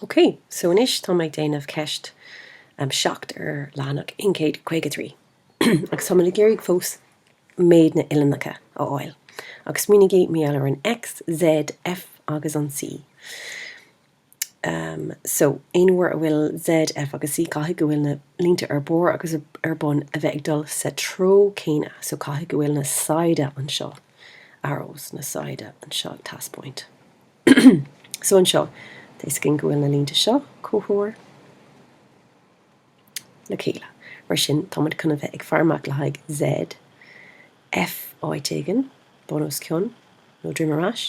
Ok, so anois tá mé ag déanamh ceist 7 ar leathanach 153 agus tá mé ag iarraidh fós méid na n-uillinneacha a fháil. Agus smaoinígí mar gheall ar an X, Z, F agus an C. Ehm, so, aon uair a bhfuil Z, F agus C caithfidh go bhfuil na línte ar barr agus ar bun a bheith ag dul sa treo céanna, so caithfidh go bhfuil na saighde anseo, arrows, na saighde anseo, taispeáint. So anseo, taispeáint go bhfuil na línte seo comhthreomhar le chéile. Mar sin, tá muid chun bheith ag faire amach le haghaidh Z, F áit éigin, bun os cionn nó droim ar ais,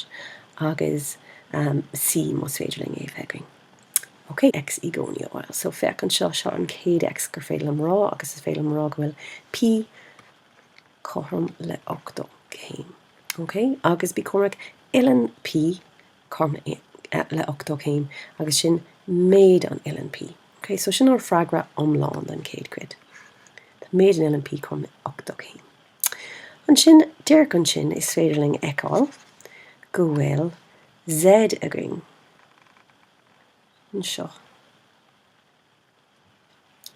agus C más féidir linn é a bheith againn. Ok, X i gcónaí ar fáil. So féach anseo, seo an chéad X gur féidir liom a rá, agus is féidir liom a rá go bhfuil P cothrom le 80 céim. OK, agus bí cúramach, uillinn P cothrom le 80 céim, agus sin méid an uillinn P. OK, so sin ár freagra iomlán don chéad cuid. Méid an uillinn P cothrom le 80 céim. Ansin, díreach ansin, is féidir linn a fheiceáil go bhfuil Z againn anseo.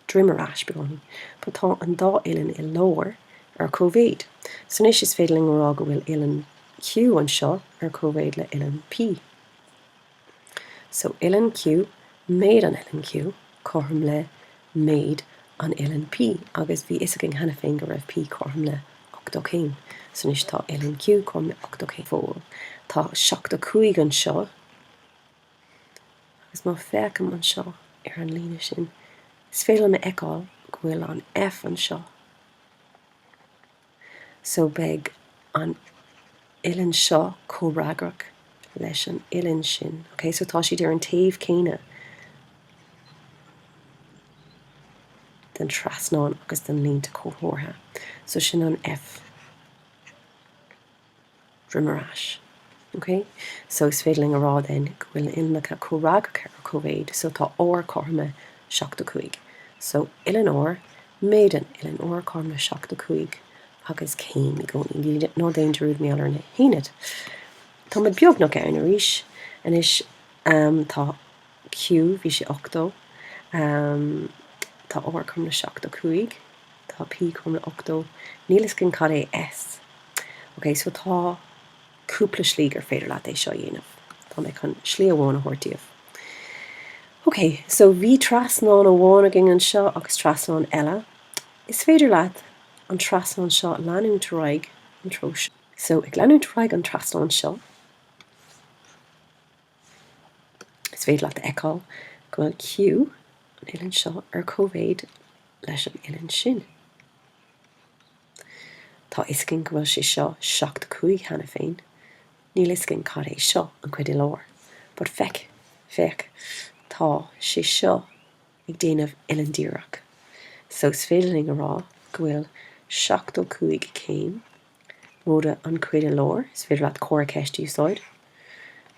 droim ar ais beagáinín, but tá an dá uillinn i lár ar comhéid. So anois is féidir linn a rá go bhfuil uillinn Q anseo ar comhéid le uillinn P. So uillinn Q, méid an uillinn Q, cothrom le méid an uillinn P, agus bhí fhios againn cheana féin go raibh P cothrom le 80 céim, so anois tá uillinn Q cothrom le 80 céim go fóill. Tá 75 anseo. agus má féachaim anseo ar an líne sin, is féidir liom a fheiceáil go bhfuil an F anseo, so beidh an uillinn seo comhfhreagrach leis an uillinn sin, okay? So tá siad ar an taobh céanna den trasnán agus den línte comhthreomhara, so sin an F. droim ar ais. OK? So is féidir linn a rá then go bhfuil na huillinneacha comhfhreagracha ar comhéid, so tá R cothrom le seachtó cúig. So uillinn R, méid an uillinn R, cothrom le seachtó cúig agus céim i gcónaí. Ná déan dearúd mar gheall ar na haonaid. Tá muid beagnach ann arís anois. Tá Q, bhí sé ochtó. Tá R cothrom le seachtó cúig. Tá P cothrom le 80. Níl 'fhios againn cad é S. Ok, so tá cúpla slí gur féidir leat é seo a dhéanamh. Tá mé chun slí amháin a thabhairt daoibh. Ok, so bhí trasnán amháin againn anseo agus trasnán eile. Is féidir leat an trasnán seo a leanúint ar aghaidh an treo seo. So, ag leanúint ar aghaidh an trasnán seo. Is féidir leat a fheiceáil go bhfuil Q, an uillinn seo, ar cóimhéid leis an uillinn sin. Tá fhios againn go bhfuil sé seo 75 cheana féin, níl fhios againn cad é seo, an chuid i lár, but féach, féach, tá sé seo ag déanamh uillinn díreach, so is féidir linn a rá go bhfuil 75 céim, Móide an chuid i lár, is féidir leat comhartha ceiste a úsáid,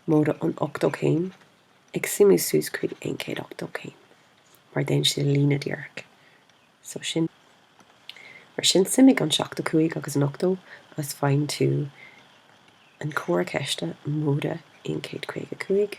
móide an 80 céim, ag suimiú suas chuig aon 180 céim, mar déanann sé líne dhíreach. So sin. Mar sin, suimigh an 75 agus an 80 agus faigheann tú an comhartha ceiste móide aon 155.